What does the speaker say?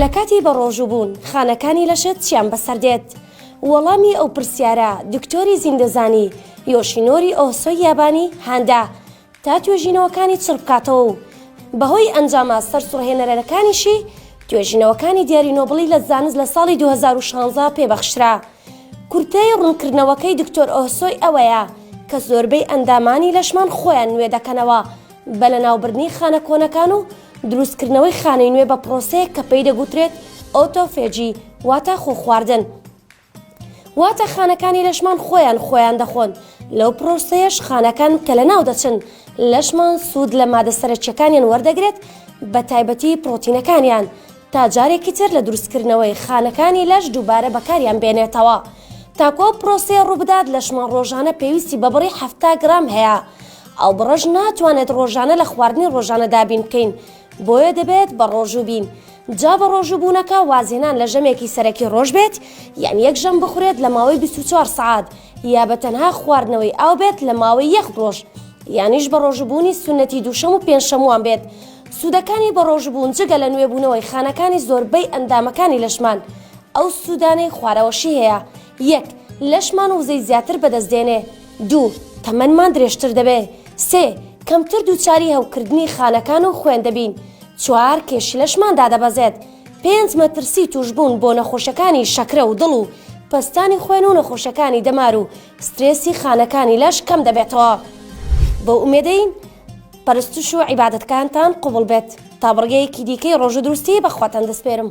لە کاتی بەڕۆژوو بوون خانەکانی لەشت چیان بەسەر دێت؟ وەڵامی ئەو پرسیارە دکتۆری زیندەزانی یۆشینۆری ئۆهسۆی یابانی هاندا تا توێژینەوەکانی چڕ بکاتەوە و بەهۆی ئەنجامە سەرسوڕهێنەرەرەکانیشی توێژینەوەکانی دیاری نۆبڵی لە زانست لە ساڵی 2016 پێ بەخشرا. کورتەی ڕوونکردنەوەکەی دکتۆر ئۆهسۆی ئەوەیە کە زۆربەی ئەندامانی لەشمان خۆیان نوێ دەکەنەوە، بە لەناوبردنی خانە کۆنەکان و دروستکردنەوەی خانەی نوێ بە پرۆسەیەک کە پێی دەگوترێت ئۆتۆفێجی واتە خۆ خواردن واتە خانەکانی لەشمان خۆیان خۆیان دەخۆن لەو پرۆسەیەش خانەکان کە لە ناو دەچن لەشمان سوود لە مادە سەرەکیەکانیان وەردەگرێت بە تایبەتی پرۆتینەکانیان تا جارێکی تر لە دروستکردنەوەی خانەکانی لەش دووبارە بەکاریان بێنێتەوە تاکۆ پرۆسەیە ڕووبدات لەشمان ڕۆژانە پێویستی بە بڕی ه گرام هەیە ئاوبڕەش ناتوانێت ڕۆژانە لە خواردنی ڕۆژانە دابین بکەین بۆیە دەبێت بە ڕۆژوو بین جا بە ڕۆژوو بوونەکە وازهێنان لە ژەمێکی سەرەکی ڕۆژ بێت یان یەک ژەم بخورێت لە ماوەی 24 سعات یا بە تەنها خواردنەوەی ئاو بێت لە ماوەی یەخ ڕۆژ یانیش بە ڕۆژبوونی سونەتی دووشەم و پێنجشەموان بێت سوودەکانی بە ڕۆژبوون جگە لە نوێبوونەوەی خانەکانی زۆربەی ئەندامەکانی لەشمان ئەو سوودانەی خوارەوەشی هەیە یەک، لەشمان وزەی زیاتر بەدەست دێنێ. دوو، تەمەنمان درێژتر دەبێ. سێ، کەمتر دووچاری هەوکردنی خانەکان و خوێن دەبین. چوار، کێشی لەشمان دادەبەزێت. پێنج، مەترسی تووشبوون بۆ نەخۆشەکانی شەکرە و دڵ و پەستانی خوێن و نەخۆشەکانی دەمار و سترێسی خانەکانی لەش کەم دەبێتەوە. بەو ئومێدەین پەرستش و عیبادەتەکانتان قبوڵ بێت. تا بڕگەیەکی دیکەی ڕۆژوو دروستیی بە خواتان دەسپێرم.